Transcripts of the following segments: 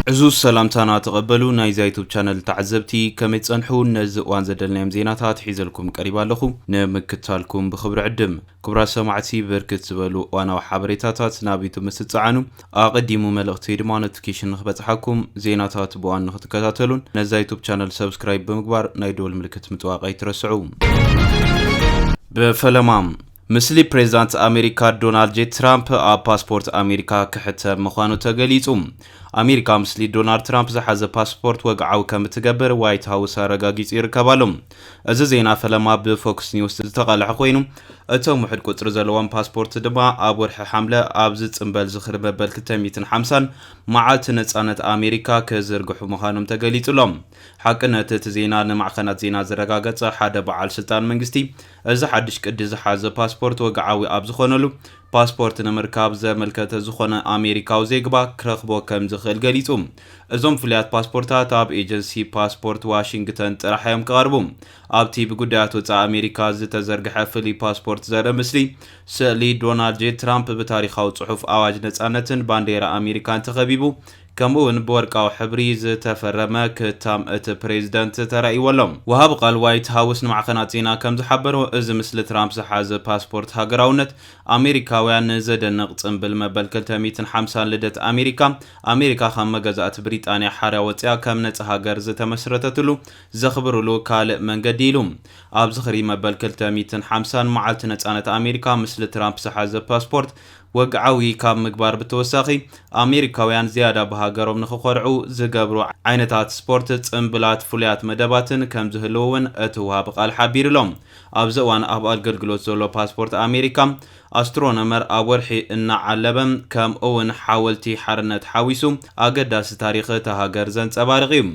ዕዙዝ ሰላምታና ተቐበሉ ናይዛ ዩቱብ ቻነል ተዓዘብቲ ከመይ ትጸንሑ ነዚ እዋን ዘደልናዮም ዜናታት ሒዘልኩም ቀሪባ ኣለኹ ንምክታልኩም ብኽብሪ ዕድም ክቡራት ሰማዕቲ ብርክት ዝበሉ እዋናዊ ሓበሬታታት ናብ ዩቱብ ምስ ትጸዓኑ ኣቐዲሙ መልእኽቲ ወይ ድማ ኖቲፊኬሽን ንክበጽሓኩም ዜናታት ብዋን ንክትከታተሉን ነዛ ዩቱብ ቻነል ሰብስክራይብ ብምግባር ናይ ደወል ምልክት ምጥዋቕ ኣይትረስዑ ብፈለማ ምስሊ ፕሬዝዳንት ኣሜሪካ ዶናልድ ጄ ትራምፕ ኣብ ፓስፖርት ኣሜሪካ ክሕተም ምዃኑ ተገሊጹ። ኣሜሪካ ምስሊ ዶናልድ ትራምፕ ዝሓዘ ፓስፖርት ወግዓዊ ከም እትገብር ዋይት ሃውስ ኣረጋጊጹ ይርከብ ኣሎ። እዚ ዜና ፈለማ ብፎክስ ኒውስ ዝተቓልሐ ኮይኑ፣ እቶም ውሑድ ቁጽሪ ዘለዎም ፓስፖርት ድማ ኣብ ወርሒ ሓምለ ኣብ ዝጽንበል ዝኽሪ መበል ክልተ ሚእትን ሓምሳን መዓልቲ ነጻነት ኣሜሪካ ክዝርግሑ ምዃኖም ተገሊጹ'ሎ። ሓቅነት እቲ ዜና ንማዕኸናት ዜና ዘረጋገጸ ሓደ በዓል ስልጣን መንግስቲ፣ እዚ ሓድሽ ቅዲ ዝሓዘ ፓስፖርት ወግዓዊ ኣብ ዝኾነሉ፣ ፓስፖርት ንምርካብ ዘመልከተ ዝኾነ ኣሜሪካዊ ዜግባ ክረኽቦ ከምዝኽእል ገሊጹ። እዞም ፍሉያት ፓስፖርታት ኣብ ኤጀንሲ ፓስፖርት ዋሽንግተን ጥራሕ'ዮም ክቐርቡ። ኣብቲ ብጉዳያት ወጻኢ ኣሜሪካ ዝተዘርግሐ ፍሉይ ፓስፖርት ዘርኢ ምስሊ፣ ስእሊ ዶናልድ ጄ ትራምፕ ብታሪኻዊ ጽሑፍ ኣዋጅ ነጻነትን ባንዴራ ኣሜሪካን ተኸቢቡ ከምኡ'ውን ብወርቃዊ ሕብሪ ዝተፈረመ ክታም እቲ ፕሬዚደንት ተራእይዎ ኣሎ። ወሃቢ ቃል ዋይት ሃውስ ንማዕኸናት ዜና ከምዝሓበሮ፣ እዚ ምስሊ ትራምፕ ዝሓዘ ፓስፖርት ሃገራውነት ኣሜሪካውያ ንዘደንቕ ፅምብል መበል ክልተ ሚእትን ሓምሳን ልደት ኣሜሪካ፣ ኣሜሪካ ካብ መገዛእቲ ብሪጣንያ ሓርያ ወፂኣ ከም ነፃ ሃገር ዝተመስረተትሉ ዘኽብርሉ ካልእ መንገዲ'ዩ ኢሉ። ኣብ ዝኽሪ መበል ክልተ ሚእትን ሓምሳን መዓልቲ ነፃነት ኣሜሪካ ምስሊ ትራምፕ ዝሓዘ ፓስፖርት ወግዓዊ ካብ ምግባር ብተወሳኺ ኣሜሪካውያን ዝያዳ ብሃገሮም ንኽኾርዑ ዝገብሩ ዓይነታት ስፖርት፣ ጽምብላት፣ ፍሉያት መደባትን ከምዝህልዉ'ውን እቲ ወሃቢ ቃል ሓቢሩ'ሎ። ኣብዚ እዋን ኣብ ኣገልግሎት ዘሎ ፓስፖርት ኣሜሪካ፣ ኣስትሮኖመር ኣብ ወርሒ እናዓለበ ከምኡ'ውን ሓወልቲ ሓርነት ሓዊሱ ኣገዳሲ ታሪኽ እታ ሃገር ዘንጸባርቕ እዩ።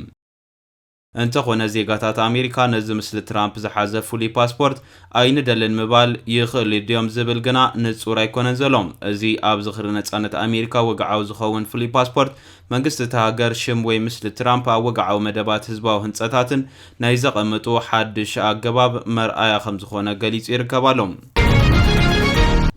እንተኾነ ዜጋታት ኣሜሪካ ነዚ ምስሊ ትራምፕ ዝሓዘ ፍሉይ ፓስፖርት ኣይንደልን ምባል ይኽእሉ ድዮም ዝብል ግና ንጹር ኣይኮነን ዘሎ። እዚ ኣብ ዝኽሪ ነጻነት ኣሜሪካ ወግዓዊ ዝኸውን ፍሉይ ፓስፖርት፣ መንግስቲ እታ ሃገር ሽም ወይ ምስሊ ትራምፕ ኣብ ወግዓዊ መደባት ህዝባዊ ህንጸታትን ናይ ዘቐምጡ ሓድሽ ኣገባብ መርኣያ ከምዝኾነ ገሊጹ ይርከብ ኣሎ።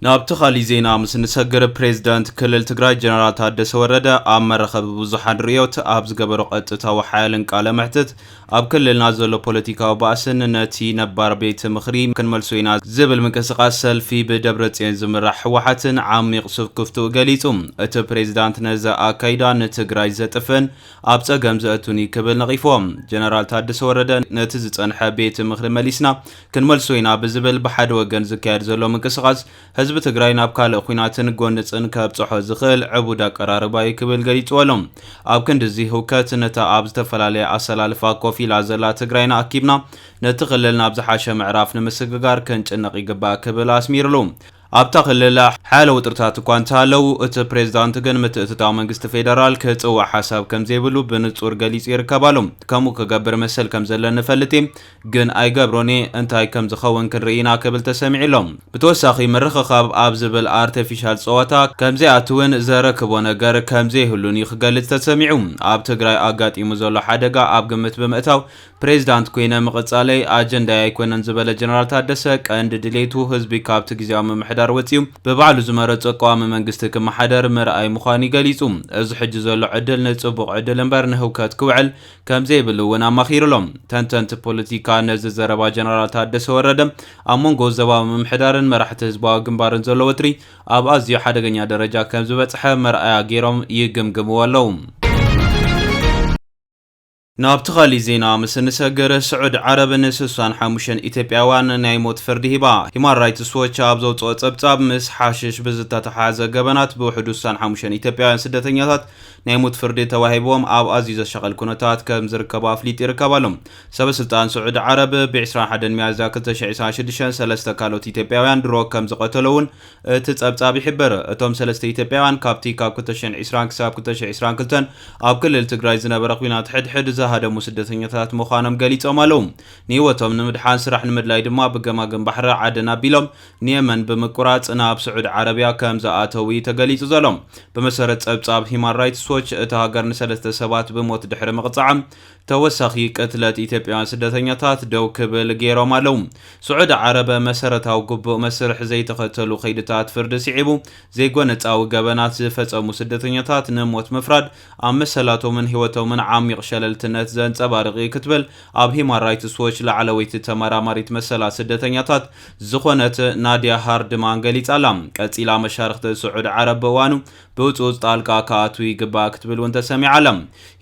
ናብቲ ካሊእ ዜና ምስ እንሰግር ፕሬዝዳንት ክልል ትግራይ ጀነራል ታደሰ ወረደ ኣብ መራኸቢ ብዙሓን ርእዮት ኣብ ዝገበሮ ቀጥታዊ ሓያልን ቃለ መሕትት ኣብ ክልልና ዘሎ ፖለቲካዊ ባእስን ነቲ ነባር ቤት ምኽሪ ክንመልሶ ኢና ዝብል ምንቅስቓስ ሰልፊ ብደብረፅዮን ዝምራሕ ህወሓትን ዓሚቕ ስክፍትኡ ገሊፁ። እቲ ፕሬዝዳንት ነዚ ኣካይዳ ንትግራይ ዘጥፍእን ኣብ ፀገም ዘእቱን እዩ ክብል ነቒፎም። ጀነራል ታደሰ ወረደ ነቲ ዝፀንሐ ቤት ምኽሪ መሊስና ክንመልሶ ኢና ብዝብል ብሓደ ወገን ዝካየድ ዘሎ ምንቅስቓስ ህዝቢ ትግራይ ናብ ካልእ ኹናትን ጎንፅን ከብፀሖ ዝኽእል ዕቡድ ኣቀራርባ እዩ ክብል ገሊፅዎ ኣሎ። ኣብ ክንዲ እዚ ህውከት ነታ ኣብ ዝተፈላለየ ኣሰላልፋ ኮፍ ኢላ ዘላ ትግራይና ኣኪብና ነቲ ክልል ናብ ዝሓሸ ምዕራፍ ንምስግጋር ክንጭነቕ ይግባእ ክብል ኣስሚርሉ። ኣብታ ክልል ሓያለ ውጥርታት እኳ እንተሃለው፣ እቲ ፕሬዝዳንት ግን ምትእትታው መንግስቲ ፌደራል ክጽዋዕ ሓሳብ ከምዘይብሉ ብንጹር ገሊጹ ይርከብ ኣሎ። ከምኡ ክገብር መሰል ከምዘለኒ እፈልጥ እየ፣ ግን ኣይገብሮን እየ፣ እንታይ ከምዝኸውን ክንርኢ ኢና ክብል ተሰሚዑ ኣሎ። ብተወሳኺ ምርኽኻብ ኣብ ዝብል ኣርተፊሻል ጸወታ ከምዘይኣትውን ዘረክቦ ነገር ከምዘይህሉን እዩ ክገልጽ ተሰሚዑ። ኣብ ትግራይ ኣጋጢሙ ዘሎ ሓደጋ ኣብ ግምት ብምእታው ፕሬዚዳንት ኮይነ ምቕፃለይ ኣጀንዳይ ኣይኮነን ዝበለ ጀነራል ታደሰ፣ ቀንዲ ድሌቱ ህዝቢ ካብቲ ግዚያዊ ምምሕዳር ወፂኡ ብባዕሉ ዝመረፆ ቀዋሚ መንግስቲ ክመሓደር ምርኣይ ምዃኑ እዩ ገሊፁ። እዚ ሕጂ ዘሎ ዕድል ንፅቡቕ ዕድል እምበር ንህውከት ክውዕል ከምዘይብሉ እውን ኣማኺሩ ኣሎ። ተንተንቲ ፖለቲካ ነዚ ዘረባ ጀነራል ታደሰ ወረደ ኣብ ሞንጎ ዞባዊ ምምሕዳርን መራሕቲ ህዝባዊ ግንባርን ዘሎ ወጥሪ ኣብ ኣዝዩ ሓደገኛ ደረጃ ከምዝበፅሐ መርኣያ ገይሮም ይግምግምዎ ኣለው። ናብቲ ካሊእ ዜና ምስ እንሰግር፣ ስዑድ ዓረብ ን ስሳን ሓሙሽተን ኢትዮጵያውያን ናይ ሞት ፍርዲ ሂባ። ሂማን ራይትስ ዎች ኣብ ዘውጽኦ ጸብጻብ፣ ምስ ሓሽሽ ብዝተተሓሓዘ ገበናት ብውሕዱ ስሳን ሓሙሽተን ኢትዮጵያውያን ስደተኛታት ናይ ሞት ፍርዲ ተዋሂብዎም ኣብ ኣዝዩ ዘሻቕል ኩነታት ከም ዝርከቡ ኣፍሊጡ ይርከብ ኣሎ። ሰበስልጣን ስዑድ ዓረብ ብ ዕስራን ሓደን ሚያዝያ ክልተ ሽሕን ዕስራን ሽዱሽተን ሰለስተ ካልኦት ኢትዮጵያውያን ድሮ ከም ዝቐተሎ'ውን እቲ ጸብጻብ ይሕብር። እቶም ሰለስተ ኢትዮጵያውያን ካብቲ ካብ ክልተ ሽሕን ዒስራን ክሳብ ክልተ ሽሕ ዒስራን ክልተን ኣብ ክልል ትግራይ ዝነበረ ኲናት ሕድሕድ ዝሃደሙ ስደተኛታት ምዃኖም ገሊጾም ኣለዉ። ንህይወቶም ንምድሓን ስራሕ ንምድላይ ድማ ብገማግም ባሕሪ ዓደን ኣቢሎም ንየመን ብምቁራጽ ናብ ስዑዲ ዓረብያ ከም ዝኣተዉ'ዩ ተገሊጹ ዘሎ። ብመሰረት ጸብጻብ ሂዩማን ራይትስ ዎች እታ ሃገር ንሰለስተ ሰባት ብሞት ድሕሪ ምቕጻዓ፣ ተወሳኺ ቅትለት ኢትዮጵያውያን ስደተኛታት ደው ክብል ገይሮም ኣለው። ስዑዲ ዓረብ መሰረታዊ ግቡእ መስርሕ ዘይተኸተሉ ከይድታት ፍርዲ ስዒቡ ዘይጎነጻዊ ገበናት ዝፈጸሙ ስደተኛታት ንሞት ምፍራድ ኣብ መሰላቶምን ህይወቶምን ዓሚቕ ሸለልትነት ዘንጸባርቕ እዩ ክትብል ኣብ ሂማን ራይትስ ዎች ላዕለወይቲ ተመራማሪት መሰላት ስደተኛታት ዝኾነት ናድያ ሃርድማን ገሊጻ ኣላ። ቀጺላ መሻርኽቲ ስዑዲ ዓረብ ብእዋኑ ብህፁፅ ጣልቃ ክኣትው ይግባእ ክትብል እውን ተሰሚዓ ኣላ።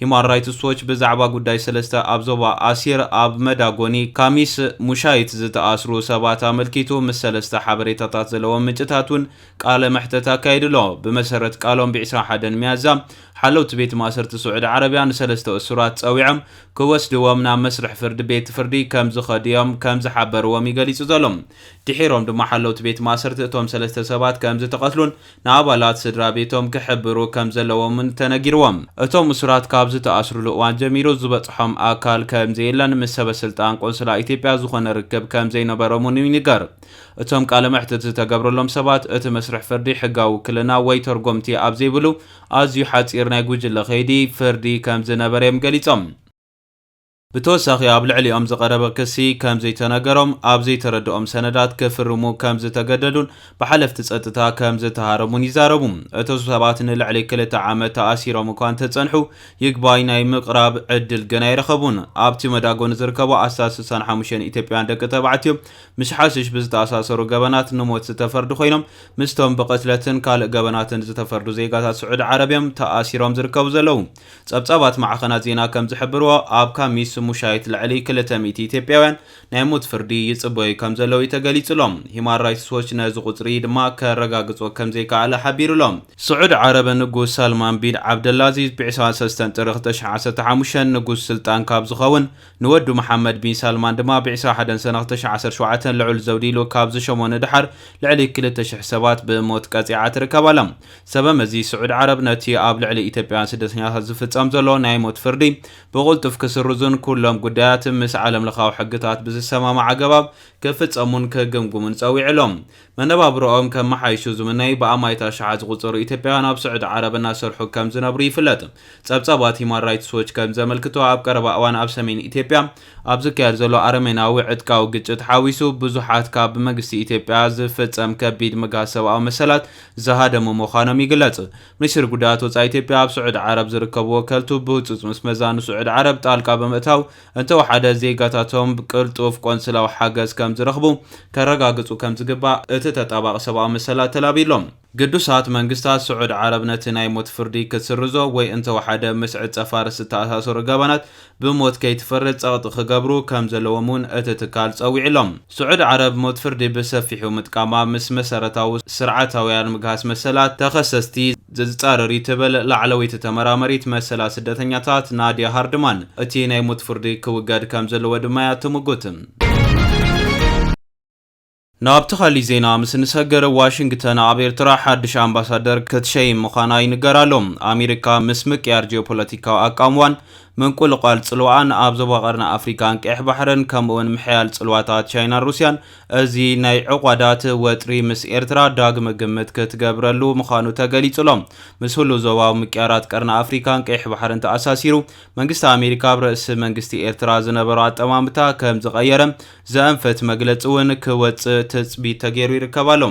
ሂዩማን ራይትስ ዎች ብዛዕባ ጉዳይ ሰለስተ ኣብ ዞባ ኣሲር ኣብ መዳጎኒ ካሚስ ሙሻይት ዝተኣስሩ ሰባት ኣመልኪቱ ምስ ሰለስተ ሓበሬታታት ዘለዎም ምንጭታት እውን ቃለ መሕተት ኣካይዱ ኣሎ። ብመሰረት ቃሎም ብ ዕስራን ሓደን ሚያዝያ ሓለውቲ ቤት ማእሰርቲ ስዑዲ ዓረብያ ንሰለስተ እሱራት ፀዊዖም ክወስድዎም ናብ መስርሕ ፍርዲ ቤት ፍርዲ ከም ዝኸዱ እዮም ከም ዝሓበርዎም እዩ ገሊፁ ዘሎ። ድሒሮም ድማ ሓለውቲ ቤት ማእሰርቲ እቶም ሰለስተ ሰባት ከም ዝተቐትሉን ንኣባላት ስድራ ቤቶም ክሕብሩ ከም ዘለዎምን ተነጊርዎም። እቶም እሱራት ካብ ዝተኣስሩሉ እዋን ጀሚሩ ዝበጽሖም ኣካል ከም ዘየለን ምስ ሰበስልጣን ቆንስላ ኢትዮጵያ ዝኾነ ርክብ ከም ዘይነበሮም እውን ይንገር። እቶም ቃለ መሕትት ዝተገብረሎም ሰባት እቲ መስርሕ ፍርዲ ሕጋዊ ውክልና ወይ ተርጎምቲ ኣብ ዘይብሉ ኣዝዩ ሓጺር ናይ ጉጅለ ከይዲ ፍርዲ ከም ዝነበረ እዮም ገሊጾም። ብተወሳኺ ኣብ ልዕሊኦም ዝቐረበ ክሲ ከም ዘይተነገሮም፣ ኣብ ዘይተረደኦም ሰነዳት ክፍርሙ ከም ዝተገደዱን ብሓለፍቲ ጸጥታ ከም ዝተሃረሙን ይዛረቡ። እቶ ሰባት ንልዕሊ ክልተ ዓመት ተኣሲሮም እኳ እንተጸንሑ፣ ይግባይ ናይ ምቕራብ ዕድል ግን ኣይረኸቡን። ኣብቲ መዳጎኒ ዝርከቡ ኣስታት ስሳን ሓሙሽተን ኢትዮጵያውያን ደቂ ተባዕትዮ ምስ ሓሽሽ ብዝተኣሳሰሩ ገበናት ንሞት ዝተፈርዱ ኮይኖም፣ ምስቶም ብቕትለትን ካልእ ገበናትን ዝተፈርዱ ዜጋታት ስዑዲ ዓረብ'ዮም ተኣሲሮም ዝርከቡ ዘለዉ። ጸብጻባት ማዕኸናት ዜና ከም ዝሕብርዎ፣ ኣብ ካሚስ ሙሻይት ልዕሊ ክልተ ሚእቲ ኢትዮጵያውያን ናይ ሞት ፍርዲ ይጽበዩ ከም ዘለዉ'ዩ ተገሊጹ ኣሎ። ሂዩማን ራይትስ ዎች ነዚ ቁጽሪ ድማ ከረጋግጾ ከም ዘይከኣለ ሓቢሩ ኣሎ። ስዑድ ዓረብ፣ ንጉስ ሳልማን ቢን ዓብደላዚዝ ብ ዕስራን ሰለስተን ጥሪ ክልተ ሽሕን ዓሰርተ ሓሙሽተን ንጉስ ስልጣን ካብ ዝኸውን ንወዱ መሓመድ ቢን ሳልማን ድማ ብ ዕስራ ሓደን ሰነ ክልተ ሽሕ ዓሰርተ ሸውዓተ ልዑል ዘውዲ ኢሉ ካብ ዝሸሞ ንደሓር ልዕሊ ክልተ ሽሕ ሰባት ብሞት ቀጺዓ ትርከብ ኣላ። ሰበ መዚ ስዑድ ዓረብ ነቲ ኣብ ልዕሊ ኢትዮጵያውያን ስደተኛታት ዝፍጸም ዘሎ ናይ ሞት ፍርዲ ብቕልጡፍ ክስርዙን ኩሎም ጉዳያት ምስ ዓለምለኻዊ ሕግታት ብዝሰማማዕ ኣገባብ ክፍጸሙን ክግምግሙን ጸዊዑ ኣሎ። መነባብሮኦም ከመሓይሹ ዝምነይ ብኣማኢት ኣሽሓት ዝቑጸሩ ኢትዮጵያውያን ኣብ ስዑዲ ዓረብ እናሰርሑ ከም ዝነብሩ ይፍለጥ። ጸብጻባት ሂዩማን ራይትስ ዎች ከም ዘመልክቶ ኣብ ቀረባ እዋን ኣብ ሰሜን ኢትዮጵያ ኣብ ዝካየድ ዘሎ ኣረሜናዊ ዕጥቃዊ ግጭት ሓዊሱ ብዙሓት ካብ ብመግስቲ ኢትዮጵያ ዝፍጸም ከቢድ ምግሃስ ሰብኣዊ መሰላት ዝሃደሙ ምዃኖም ይግለጽ። ሚኒስትሪ ጉዳያት ወጻኢ ኢትዮጵያ ኣብ ስዑዲ ዓረብ ዝርከቡ ወከልቱ ብህጹጽ ምስ መዛኑ ስዑዲ ዓረብ ጣልቃ ብምእታው እንተወሓደ ዜጋታቶም ቅልጡፍ ቆንስላዊ ሓገዝ ከም ዝረኽቡ ከረጋግጹ ከም ዝግባእ እቲ ተጣባቒ ሰብኣዊ መሰላት ተላብዩ ኣሎ። ግዱሳት መንግስታት ስዑድ ዓረብ ነቲ ናይ ሞት ፍርዲ ክትስርዞ ወይ እንተወሓደ ምስ ዕጸ ፋርስ ዝተኣሳሰሩ ገበናት ብሞት ከይትፈርድ ጸቕጢ ክገብሩ ከም ዘለዎም እውን እቲ ትካል ጸዊዑ ኣሎ። ስዑድ ዓረብ ሞት ፍርዲ ብሰፊሑ ምጥቃማ ምስ መሰረታዊ ስርዓታውያን ምግሃስ መሰላት ተኸሰስቲ፣ ዘዝጻረር እዩ ትብል ላዕለወይቲ ተመራመሪት መሰላት ስደተኛታት ናድያ ሃርድማን፣ እቲ ናይ ሞት ፍርዲ ክውገድ ከም ዘለዎ ድማ እያ እትምጉት። ናብቲ ካሊእ ዜና ምስ እንሰግር ዋሽንግተን ኣብ ኤርትራ ሓድሽ ኣምባሳደር ክትሸይም ምዃና ይንገር ኣሎ። ኣሜሪካ ምስ ምቅያር ጂኦፖለቲካዊ ኣቃምዋን ምንቁልቋል ጽልዋኣን ኣብ ዞባ ቀርኒ ኣፍሪካን ቀይሕ ባሕርን ከምኡ'ውን ምሕያል ጽልዋታት ቻይናን ሩስያን እዚ ናይ ዕቋዳት ወጥሪ ምስ ኤርትራ ዳግመ ግምት ክትገብረሉ ምዃኑ ተገሊጹ'ሎ። ምስ ህሉው ዞባዊ ምቅያራት ቀርኒ ኣፍሪካን ቀይሕ ባሕርን ተኣሳሲሩ፣ መንግስቲ ኣሜሪካ ኣብ ርእሲ መንግስቲ ኤርትራ ዝነበሮ ኣጠማምታ ከምዝቐየረ ዘእንፍት መግለጺ'ውን ክወጽእ ትጽቢት ተገይሩ ይርከብ ኣሎ።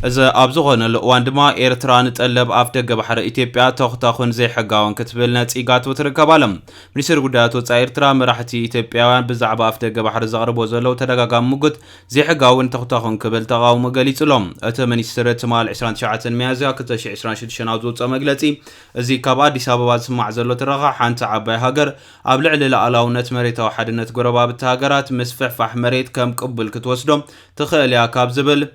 እዚ ኣብ ዝኾነሉ እዋን ድማ ኤርትራ ንጠለብ ኣፍደገ ባሕሪ ኢትዮጵያ ተኹታኹን ዘይሕጋውን ክትብል ነጺጋቶ ትርከብ ኣላ። ሚኒስተር ጉዳያት ወጻኢ ኤርትራ፣ መራሕቲ ኢትዮጵያውያን ብዛዕባ ኣፍደገ ባሕሪ ዘቕርብዎ ዘለዉ ተደጋጋሚ ሙግት ዘይሕጋውን ተኹታኹን ክብል ተቓውሞ ገሊጹ ኣሎ። እቲ ሚኒስትሪ ትማል ዕስራን ትሽዓተን ሚያዝያ ክልተ ሽሕ ዕስራን ሽዱሽተን ኣብ ዘውጽኦ መግለጺ፣ እዚ ካብ ኣዲስ ኣበባ ዝስማዕ ዘሎ ትረኻ ሓንቲ ዓባይ ሃገር ኣብ ልዕሊ ልኣላውነት መሬታዊ ሓድነት ጎረባብቲ ሃገራት ምስፍሕፋሕ መሬት ከም ቅቡል ክትወስዶ ትኽእል እያ ካብ ዝብል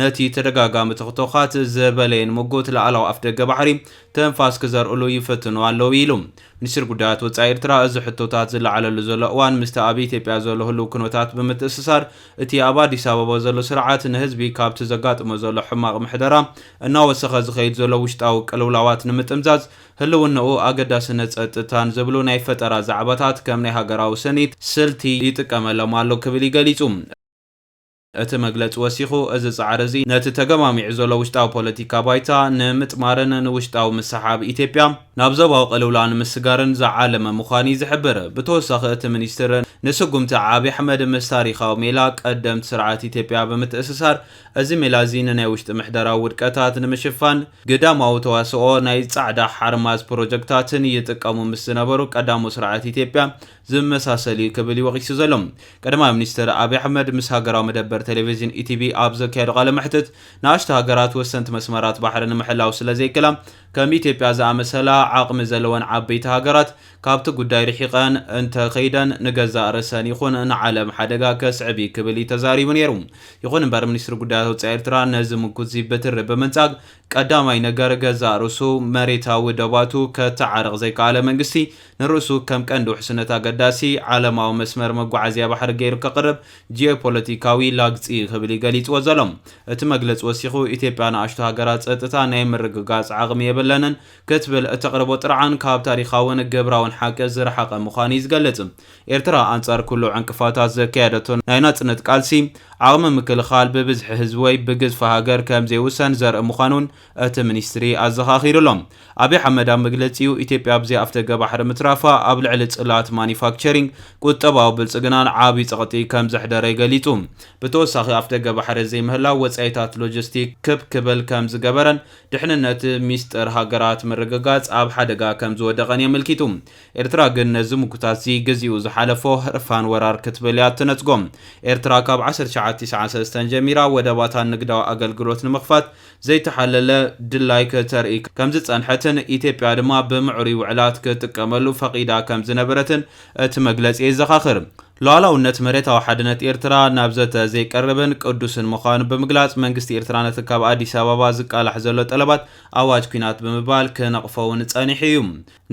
ነቲ ተደጋጋሚ ቶኽቶኻት ዝበለየን ምጉት ላዕላዊ ኣፍደገ ባሕሪ ትንፋስ ክዘርእሉ ይፍትኑ ኣለዉ ኢሉ። ሚኒስትሪ ጉዳያት ወጻኢ ኤርትራ እዚ ሕቶታት ዝለዓለሉ ዘሎ እዋን ምስቲ ኣብ ኢትዮጵያ ዘሎ ህሉው ኩነታት ብምትእስሳር እቲ ኣብ ኣዲስ ኣበባ ዘሎ ስርዓት ንህዝቢ ካብቲ ዘጋጥሞ ዘሎ ሕማቕ ምሕደራ እናወሰኸ ዝኸይድ ዘሎ ውሽጣዊ ቅልውላዋት ንምጥምዛዝ ህልውንኡ ኣገዳስነት ጸጥታን ዝብሉ ናይ ፈጠራ ዛዕባታት ከም ናይ ሃገራዊ ስኒት ስልቲ ይጥቀመሎም ኣሎ ክብል እዩ ገሊጹ። እቲ መግለጺ ወሲኹ፣ እዚ ጻዕሪ እዚ ነቲ ተገማሚዑ ዘሎ ውሽጣዊ ፖለቲካ ባይታ ንምጥማርን ንውሽጣዊ ምስሕሓብ ኢትዮጵያ ናብ ዞባዊ ቅልውላው ንምስጋርን ዝዓለመ ምዃኑ እዩ ዝሕብር። ብተወሳኺ እቲ ሚኒስትር፣ ንስጉምቲ ዓብዪ ኣሕመድ ምስ ታሪኻዊ ሜላ ቀደምት ስርዓት ኢትዮጵያ ብምትእስሳር፣ እዚ ሜላ እዚ ንናይ ውሽጢ ምሕደራዊ ውድቀታት ንምሽፋን ግዳማዊ ተዋስኦ ናይ ጻዕዳ ሓርማዝ ፕሮጀክታትን ይጥቀሙ ምስ ዝነበሩ ቀዳሞት ስርዓት ኢትዮጵያ ዝመሳሰል እዩ ክብል እዩ ወቒሱ ዘሎ። ቀዳማይ ሚኒስተር ኣብይ ኣሕመድ ምስ ሃገራዊ መደበር ቴሌቪዥን ኢቲቪ ኣብ ዘካየዶ ቃለ መሕትት፣ ንኣሽቱ ሃገራት ወሰንቲ መስመራት ባሕሪ ንምሕላው ስለ ዘይክእላ፣ ከም ኢትዮጵያ ዝኣመሰላ ዓቕሚ ዘለወን ዓበይቲ ሃገራት ካብቲ ጉዳይ ርሒቐን እንተ ከይደን ንገዛእ ርእሰን ይኹን ንዓለም ሓደጋ ከስዕብ እዩ ክብል እዩ ተዛሪቡ ነይሩ። ይኹን እምበር ሚኒስትሪ ጉዳያት ወጻኢ ኤርትራ ነዚ ምጉት'ዚ ብትሪ ብምንጻግ፣ ቀዳማይ ነገር ገዛእ ርእሱ መሬታዊ ደባቱ ከተዓርቕ ዘይከኣለ መንግስቲ፣ ንርእሱ ከም ቀንዲ ውሕስነት ኣገዳሲ ዓለማዊ መስመር መጓዓዝያ ባሕሪ ገይሩ ከቕርብ ጂኦፖለቲካዊ ላግጺ ክብል እዩ ገሊጽዎ ዘሎ። እቲ መግለጺ ወሲኹ፣ ኢትዮጵያ ንኣሽቱ ሃገራት ጸጥታ ናይ ምርግጋጽ ዓቕሚ የብለንን ክትብል እተቕርቦ ጥርዓን ካብ ታሪኻውን ግብራውን ሓቂ ዝረሓቐ ምዃኑ እዩ ዝገልጽ። ኤርትራ ኣንጻር ኩሉ ዕንቅፋታት ዘካየደቶ ናይ ናጽነት ቃልሲ፣ ዓቕሚ ምክልኻል ብብዝሒ ህዝቢ ወይ ብግዝፊ ሃገር ከም ዘይውሰን ዘርኢ ምዃኑን እቲ ሚኒስትሪ ኣዘኻኺሩ ኣሎ። ኣብይ ኣሕመድ ኣብ መግለጺኡ፣ ኢትዮጵያ ብዘይ ኣፍደገ ባሕሪ ምትራፋ ኣብ ልዕሊ ጽላት ማኑፋክቸሪንግ፣ ቁጠባዊ ብልጽግናን ዓቢ ጸቕጢ ከም ዘሕደረ ገሊጹ። ብተወሳኺ ኣፍደገ ባሕሪ ዘይምህላው ወጻኢታት ሎጂስቲክ ክብ ክብል ከም ዝገበረን ድሕንነት ሚስጥር ሃገራት ምርግጋጽ ኣብ ሓደጋ ከም ዝወደቐን የመልኪቱ። ኤርትራ ግን ነዚ ምጉታት'ዚ ግዚኡ ዝሓለፎ ህርፋን ወራር ክትብል እያ እትነጽጎ። ኤርትራ ካብ ዓሰርተ ትሽዓተ ቲስዓን ሰለስተን ጀሚራ ወደባታ ንግዳዊ ኣገልግሎት ንምኽፋት ዘይተሓለለ ድላይ ክተርኢ ከምዝጸንሐትን ኢትዮጵያ ድማ ብምዕሩይ ውዕላት ክትጥቀመሉ ፈቒዳ ከምዝነበረትን እቲ መግለጺ የዘኻኽር። ሉኣላውነት መሬታዊ ሓድነት ኤርትራ ናብ ዘተ ዘይቀርብን ቅዱስን ምዃኑ ብምግላጽ መንግስቲ ኤርትራ ነቲ ካብ ኣዲስ ኣበባ ዝቃላሕ ዘሎ ጠለባት ኣዋጅ ኲናት ብምባል ክነቕፎ'ውን ጸኒሑ እዩ።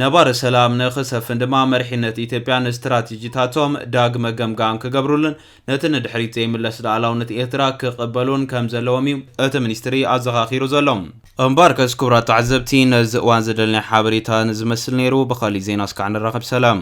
ነባሪ ሰላም ንክሰፍን ድማ መሪሕነት ኢትዮጵያ ንስትራቴጂታቶም ዳግመ ገምጋም ክገብሩሉን ነቲ ንድሕሪት ዘይምለስ ልኣላውነት ኤርትራ ክቕበሉን ከምዘለዎም እዩ እቲ ሚኒስትሪ ኣዘኻኺሩ ዘሎ። እምበኣርከስ ክቡራት ተዓዘብቲ ነዚ እዋን ዝደለናዮ ሓበሬታ ነዚ ዝመስል ነይሩ። ብኻሊእ ዜና እስካዕ ንራኸብ ሰላም።